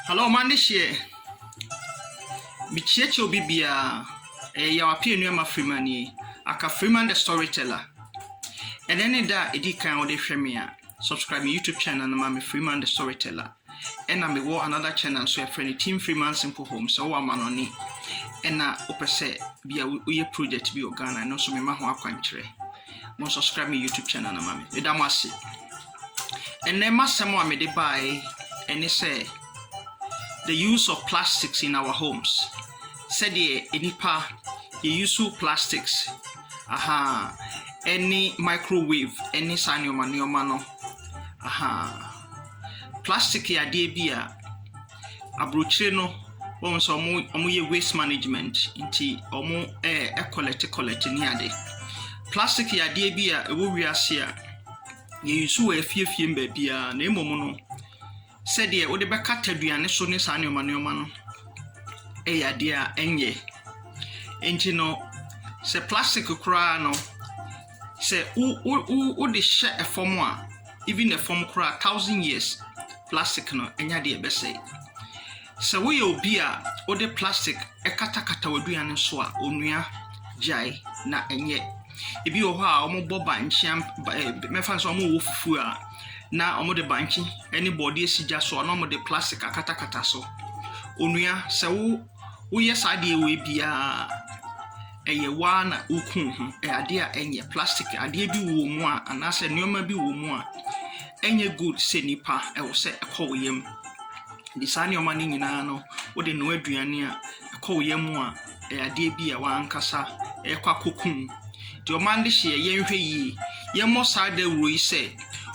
Hello, ɔma ne hyeɛ. Mekyiakyia obi biara. Ɛyɛ yaw apia nnuama Freeman nie. Aka Freeman the storyteller. Ɛnɛ ne da a ɛdi kan a wode hwɛ me a, subscribe me YouTube channel no ma me Freeman the storyteller. Ɛna mewɔ another channel nso yɛfrɛ no Team Freeman Simple Homes. Sɛ wowɔ amanɔne ɛna wopɛ sɛ bi a woyɛ project bi wɔ Ghana ɛno nso mema ho akwankyerɛ. Mo subscribe me YouTube channel no ma me. Meda mo ase. Ɛnɛ m'asɛm a mede baeɛ ɛne sɛ the use of plastics in our homes. Sɛdeɛ nnipa yɛyusu plastics aha ɛne microwave ɛne saa nneɛma nneɛma no aha. Plastic yɛ adeɛ bi a aburokyire no wohu sɛ ɔmo ɔmo yɛ waste management nti ɔmo ɛɛ kɔlɛte kɔlɛte ne ade. Plastic yɛ adeɛ bi a ɛwɔ wiase a yɛ use wɔ efie fie mu baabia na mmom no sɛdeɛ wode bɛkata aduane so ne saa nnoɔma nnoɔma no ɛyɛ adeɛ a ɛnyɛ. Nti no sɛ plastic koraa no. Sɛ wo wo wo wode hyɛ fam a, even fam koraa thousand years plastic no ɛnyɛ adeɛ ɛbɛsɛe. Sɛ woyɛ obi a wode plastic ɛkatakata w'aduane no so a, onua gyae na ɛnyɛ. Ebi wɔ hɔ a wɔbɔ bankye am ba ɛɛ mɛfa no sɛ wɔwɔ fufuo a na wɔde bankye ne bɔɔdeɛ si gya so a na wɔde plastic akatakata so. Onua sɛ wo woyɛ saa adeɛ wei biara a. ɛyɛ wo ara na woku wo ho, ɛyɛ adeɛ a ɛnyɛ, plastic adeɛ bi wɔ wo mu a anaasɛ nneɛma bi wɔ wo mu a ɛnyɛ good sɛ nipa ɛwɔ sɛ ɛkɔ wo yam. De saa nneɛma no nyinaa no wode noa aduane a ɛkɔ wo yam a ɛyɛ adeɛ bi a w'ankasa ɛkɔ akɔku wo. Deɛ ɔman de hyeɛ yɛnhwɛ yie, yɛmmɔ saa dawuro yi sɛ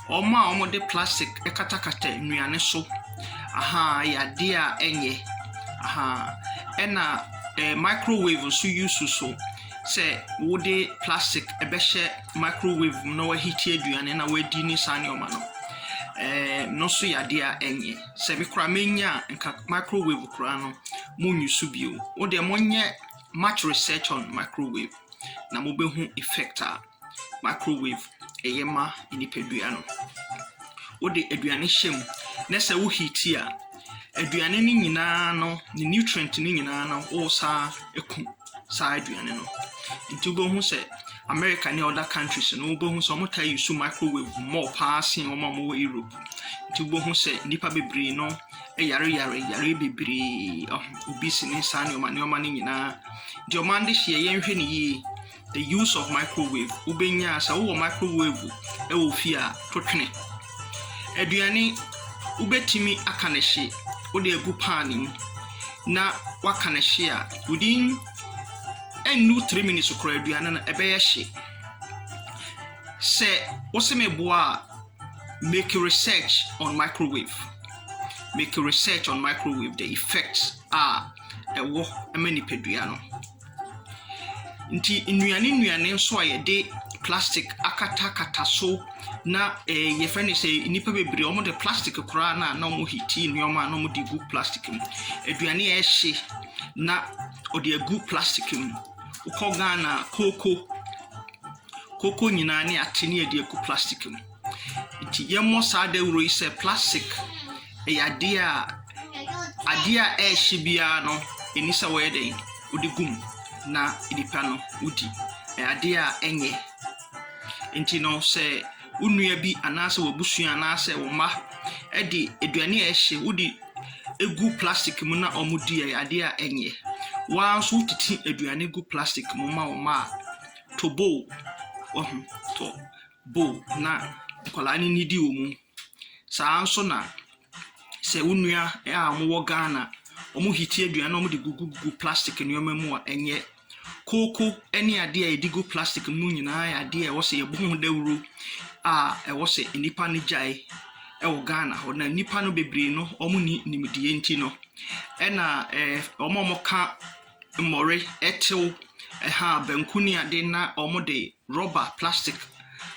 wɔn a wɔde plastic katakata nnuane so, aha, ɛyɛ adeɛ a ɛnyɛ, aha, ɛna. eh, microwave nso use so sɛ wode plastic ɛbɛhyɛ microwave mu na wahiti aduane na wadi ne saa nneɛma no eh, no nso yɛ adeɛ a ɛnyɛ sɛ me koraa menya a nka microwave koraa no monnyi so bio wodeɛ monyɛ much research on microwave na mobɛhu effect a microwave yɛ ma nipadua no. Wode aduane hyɛ mu na sɛ wo heat a, aduane no nyinaa no, ne nutrient no nyinaa no, wosan ku saa aduane no. Nti wobɛhu sɛ America ne other countries no, wobɛhu sɛ wɔtaa use microwave more paa sen wɔn a wɔwɔ Europe. Nti wobɛhu sɛ nnipa bebree no yareyare yare bebree, obesity ne saa nneɛma nneɛma no nyinaa. Deɛ wɔde hyeɛ yɛnhwɛ no yie. The use of microwave, wobɛnya a sɛ wowɔ microwave wɔ fie a, to twene. Aduane, wobɛtumi aka no hye, wode agu pan mu na waka no hye a, within ɛnnu three minutes koraa aduane no ɛbɛyɛ hye. Sɛ wose meboa a, make research on microwave. Make research on microwave, the effects a ɛwɔ ma nipadua no. Nti nnuane nnuane nso a yɛde plastic akatakata so na ɛɛ yɛfrɛ no sɛ nnipa bebree wɔde plastic koraa no a na wɔhiti nneɛma a na wɔde gu plastic mu. Aduane a ɛhye na wɔde agu plastic mu. Wokɔ Ghana a, kooko, kooko nyinaa ne ate ne wɔde agu plastic mu. Nti yɛmmɔ saa dawuro yi sɛ plastic yɛ adeɛ a adeɛ a ɛrehye biara no, ɛni sɛ wɔyɛ dɛn, wode gu mu na nnipa no wodi. Ɛyɛ adeɛ a ɛnyɛ. Nti no sɛ wo nua bi anaasɛ w'abusua anaasɛ wo mma de aduane a ɛrehye wode gu plastic mu na wɔdi a, ɛyɛ adeɛ a ɛnyɛ. Wo ara nso wotete aduane gu plastic mu ma wo mma a, to bo o, wahu, to. bowl na nkwadaa no nnidi wɔ mu. Saa ara nso na sɛ wo nua a wɔwɔ Ghana, wɔhete aduane na wɔde gugu plastic nneɛma mu a, ɛnyɛ. Kooko ne adeɛ a yɛde gu plastic mu no nyinaa yɛ adeɛ a ɛwɔ sɛ yɛbɔ ho dawuro a ɛwɔ sɛ nnipa no gyae wɔ Ghana hɔ. Na nnipa no bebree no, wɔnni nimdeɛ nti no, ɛna ɛɛ wɔn a wɔka mmɔre, ɛtew, ɛha, banku ne ade na wɔde Rɔba, plastic,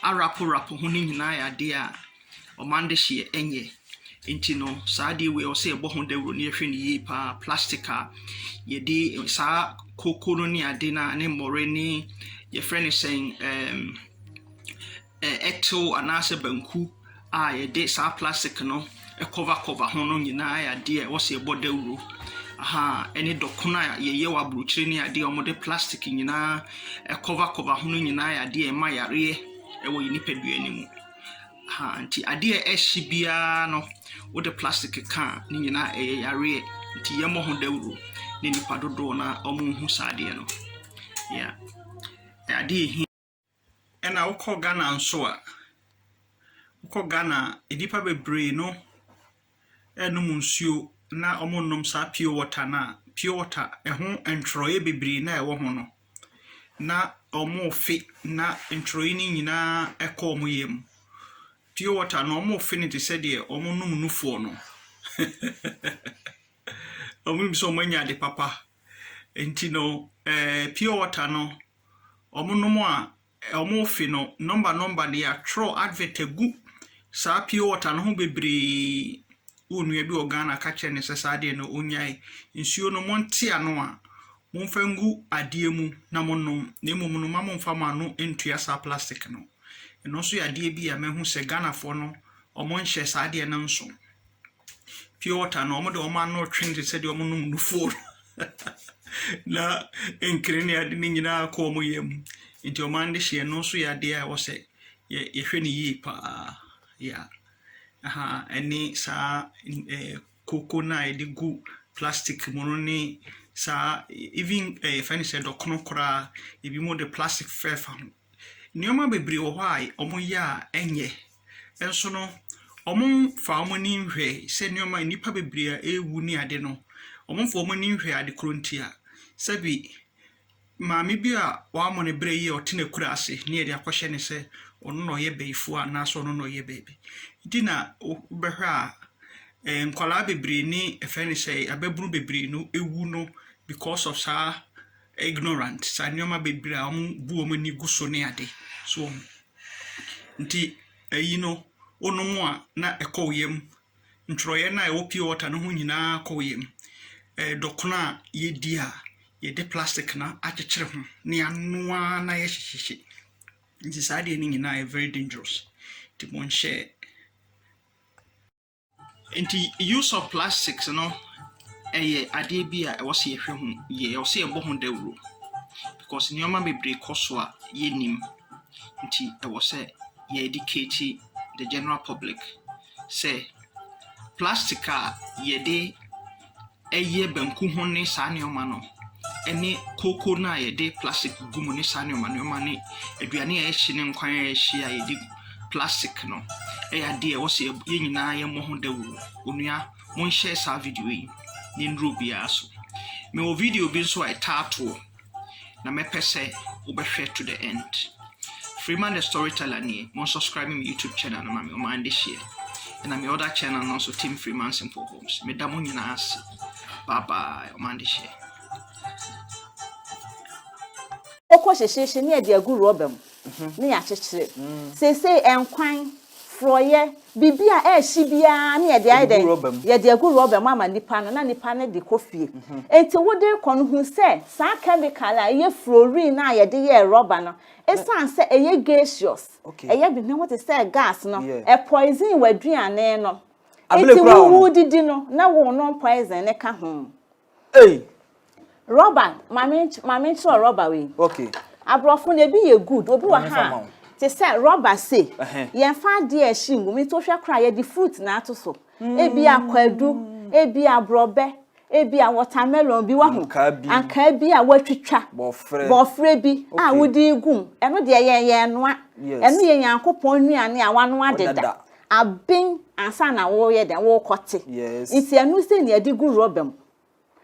arapo rapo ho no nyinaa yɛ adeɛ a ɔman de hyeɛ ɛnyɛ. Nti no saa adeɛ wei ɛwɔ sɛ yɛbɔ ho dawuro na yɛhwɛ no yie paa. Plastic a yɛde saa koko no ne ade no a ne mmɔre ne yɛfrɛ no sɛn ɛɛm ɛtew anaasɛ banku. a yɛde saa plastic no cover cover ho no nyinaa yɛ adeɛ a ɛwɔ sɛ yɛbɔ dawuro. Ahaa, ɛne dɔkono a yɛyɛ wɔ aburokyire ne adeɛ a wɔde plastic nyinaa cover cover ho no nyinaa yɛ adeɛ a ɛma yareɛ wɔ yɛn nipadua no mu. Ahaa, nti adeɛ a ɛhye biara no, wode plastic ka a, ne nyinaa ɛyɛ yareɛ. Nti yɛmmɔ ho dawuro na nnipa dodoɔ no ara wɔnhu saa adeɛ no. Yeah. Ɛyɛ adeɛ a ɛhia. Ɛna wokɔ Ghana nso a, wokɔ Ghana a, nnipa bebree no nnom nsuo na wɔnnom saa pure water no a, pure water ɛho ntwerɛeɛ bebree no a ɛwɔ ho no, na wɔrefe na ntwerɛeɛ no nyinaa kɔ wɔn yam. Pure water no, wɔrefe no te sɛ deɛ wɔnom nufoɔ no. Wɔnim sɛ wɔanya ade papa. Nti no, ɛɛ pure water no. wɔnom a wɔrefe no nɔmba nɔmba de atwerɛ advert agu saa pure water no ho bebree. Wo nua bi wɔ Ghana ka kyerɛ no sɛ saa deɛ no ɔnyae. Nsuo no monte ano a momfa ngu adeɛ mu na monom na mmom no mma momfa mo ano ntua saa plastic no. Ɛno nso yɛ adeɛ bi a mahu sɛ Ghanafoɔ no wɔnhyɛ saa adeɛ no nso. Pure water no, wɔde wɔn ano retwe no te sɛ deɛ wɔnom nufoɔ no. Na nkene ne ade no nyinaa kɔ wɔn yam. Nti wɔn ano de hyeɛ no nso yɛ adeɛ a ɛwɔ sɛ yɛ- yɛhwɛ no yie paa. Yeah. Aha, ɛne saa n- eh, koko no a yɛde gu plastic mu no ne saa even eh, yɛfrɛ no sɛ dɔkono koraa, ebinom de plastic fɛfa ho. Nneɛma bebree wɔ hɔ a wɔyɛ a ɛnyɛ, nso no, wɔmfa wɔn ani nhwɛ sɛ nneɛma a nnipa bebree a ɛrewu ne ade no, wɔmfa wɔn ani nhwɛ ade korɔ nti a, sɛbe maame bi a wamɔ ne berɛ yie a ɔte n'akurase na yɛde akɔhyɛ no sɛ ɔno na ɔyɛ bayifoɔ anaasɛ ɔno na ɔyɛ baabi. Nti na wobɛhwɛ a, eh, nkwadaa bebree ne ɛfɛ ne sɛ ababunu bebree no ɛwu no because of saa ignorant saa nnoɔma bebree a wɔn bu wɔn ani gu so ne ade so wɔn nti ɛyi no wonom a na ɛkɔ wo yam ntwerɛeɛ no a ɛwɔ pure water no ho nyinaa kɔ wo yam ɛɛ dɔkono a yɛdi a yɛde plastic na akyekyere ho na yɛanoa na yɛhyehyehye nti saa deɛ no nyinaa yɛ very dangerous nti monhyɛ Nti use of plastics no ɛyɛ adeɛ bi a ɛwɔ sɛ yɛhwɛ ho yie, ɛwɔ sɛ yɛbɔ ho dawuro because nneɛma bebree kɔ so a yɛnnim nti ɛwɔ sɛ yɛ educate the general public sɛ plastic a yɛde ɛyɛ banku ho ne saa nneɛma no, ɛne kooko no a yɛde plastic gugu mu ne saa nneɛma nneɛma ne aduane a ɛhye ne nkwan a ɛhye a yɛde gu plastic no ɛyɛ adeɛ a ɛwɔ sɛ yɛn nyinaa yɛmmɔ ho dawuro. Onua, monhyɛ saa video yi ne nnuro biara so. Mewɔ video bi nso a ɛtaa toɔ. na mɛpɛ sɛ wobɛhwɛ to the end. Freeman the Storyteller nie, mo subscribe me YouTube channel no ma me ɔman de hyeɛ. Ɛna me other channel no nso Tim Freeman Simple Homes. Meda mo nyinaa ase. Bye bye, ɔman de hyeɛ. Ɔkɔ hyehyeehye ne yɛde agu rɔba mu ne yɛakyekyere. Seesei nkwan. Forɔeɛ, biribi a ɛrehye biara na yɛde ayɛ dɛn? Yɛde agu rɔba mu ama nipa no na nipa no de kɔ fie. Enti wode rekɔ no hu sɛ saa kɛmikal a ɛyɛ fluorine no a yɛde yɛɛ rɔba no, ɛsiane sɛ ɛyɛ gaseous, ɛyɛ denam wote sɛ gas no, ɛpoison w'aduane no. Enti wo wodidi no na wonom poison no ka ho. Ei! Rɔba, maame maame nkyerɛ rɔba wei. Okay. Aborɔfo no ebi yɛ good, obi wɔ ha a te sɛ rɔba se, yɛmfa adeɛ a ɛhye ngu mu nti wohwɛ koraa yɛde fruit na ato so. Ebi a kwadu, ebi a borɔbɛ, ebi a watermelon bi wahu. Ankaa bi. Ankaa bi a wɔatwitwa. Bɔfrɛ. Bɔfrɛ bi a wode gu mu. Ɛno deɛ yɛn yɛn noa. Yes. Ɛno yɛ Nyankopɔn nnuane a wanoa deda. aben ansa na woreyɛ dɛn worekɔte nti ɛno sɛ nea ɛde gu rɔba mu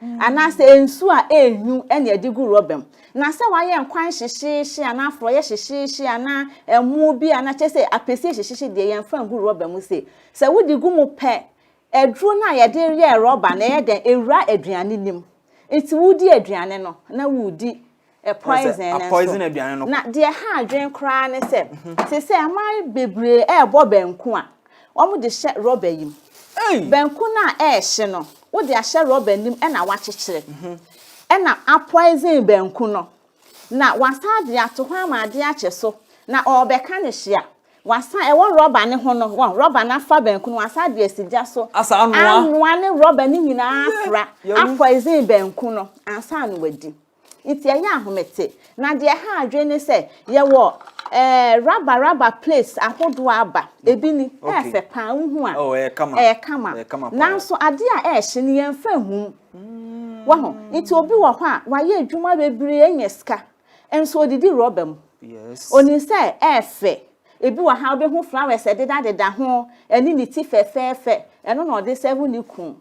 mm. anaasɛ nsu a ɛnwu ɛna ɛde gu rɔba mu na sɛ wayɛ nkwan hyehyeehye anaa forɔyɛ hyehyeehye anaa ɛmo bi anaa kyɛ sɛ apɛsie hyehyeehye deɛ yɛmfa ngu rɔba mu se sɛ wode gu mu pɛ Aduro no a yɛde yɛɛ rɔba no, ɛyɛ dɛn? Ɛwura aduane no mu. Nti wodi aduane no na woredi poison no nso. Na deɛ ɛha adwene koraa ne sɛ, te sɛ mmaa bebree ɛrebɔ banku a, wɔde hyɛ rɔba yi mu. Banku no a ɛrehye no, wode ahyɛ rɔba no mu na woakyekyere. Ɛna a poison banku no. Na wɔasan de ato hɔ ama adeɛ akye so. Na ɔrebɛka no hye a, Wɔasan ɛwɔ rɔba no ho no, wɔn rɔba no afa banku no, wɔasan de asi gya so. Asa anoa. Anoa ne rɔba no nyinaa afra, apɔisen banku no, ansa na wɔadi. Nti ɛyɛ ahomete. Na deɛ ɛha adwene ne sɛ, yɛwɔ ɛɛ raba raba plates ahodoɔ aba. Ebi ni, ɛyɛ fɛ pa ara, wohu a. Oh, ɛyɛ kama. Ɛyɛ kama. Ɛyɛ kama pa ara. Nanso adeɛ a ɛrehye no, yɛmfa nhu mu. Wahu? Nti obi wɔ hɔ a, wayɛ adwuma bebree anya sika, Nso odidi rɔba mu. Yes. Onim sɛ ɛyɛ fɛ. Ebi wɔ ha wobɛhu flowers ɛdedadeda ho, ɛne ne ti fɛfɛɛfɛ. Ɛno na ɔde sɛvo ne kunu.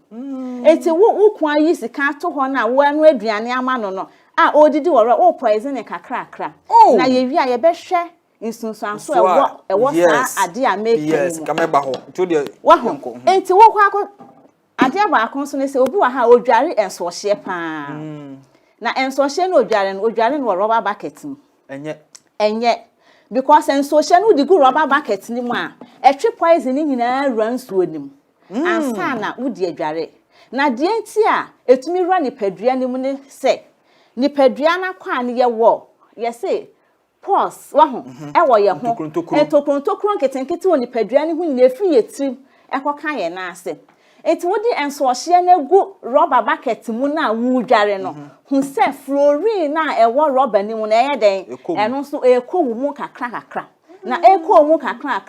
Enti wo wo kunu ayi sika ato hɔ no a woanoa aduane ama no no a ɔredidi wɔ rɔ, worepoison no kakrakra. Oh! Na yɛwie a yɛbɛhwɛ nsunsuanso a ɛwɔ ɛwɔ saa Yes. adeɛ a mereka yi Yes. mu. Ka mɛba hɔ. Nti wo deɛ Wahu? yɛnkɔ. Mhm. Enti wokɔ akɔ Adeɛ baako nso ne sɛ obi wɔ ha a ɔdware nsoɔhyeɛ pa ara. Na nsoɔhyeɛ no ɔdware no, ɔdware no wɔ rɔba bucket mu. Ɛnyɛ. Ɛnyɛ. Because nsoɔhyeɛ no wode gu rɔba bucket no mu a, ɛtwe poison no nyinaa wura nsuo no mu ansa na wode adware. Na deɛ nti a ɛtumi wura nipadua no mu ne sɛ, nipadua no akwaa no yɛwɔ, yɛse pores, wahu, wɔ yɛn ho, ntokuro ntokuro nketenkete wɔ nipadua no ho nyinaa efiri yɛn tirim ɛkɔka yɛn nan ase. Nti wode nsɔhyeɛ no agu rɔba bucket mu no a woredware no, hu sɛ fluorine no a ɛwɔ rɔba no mu no ɛyɛ dɛn? Ɛno nso ɛrekɔ wo mu kakra kakra. Na ɛrekɔ wo mu kakra kakra.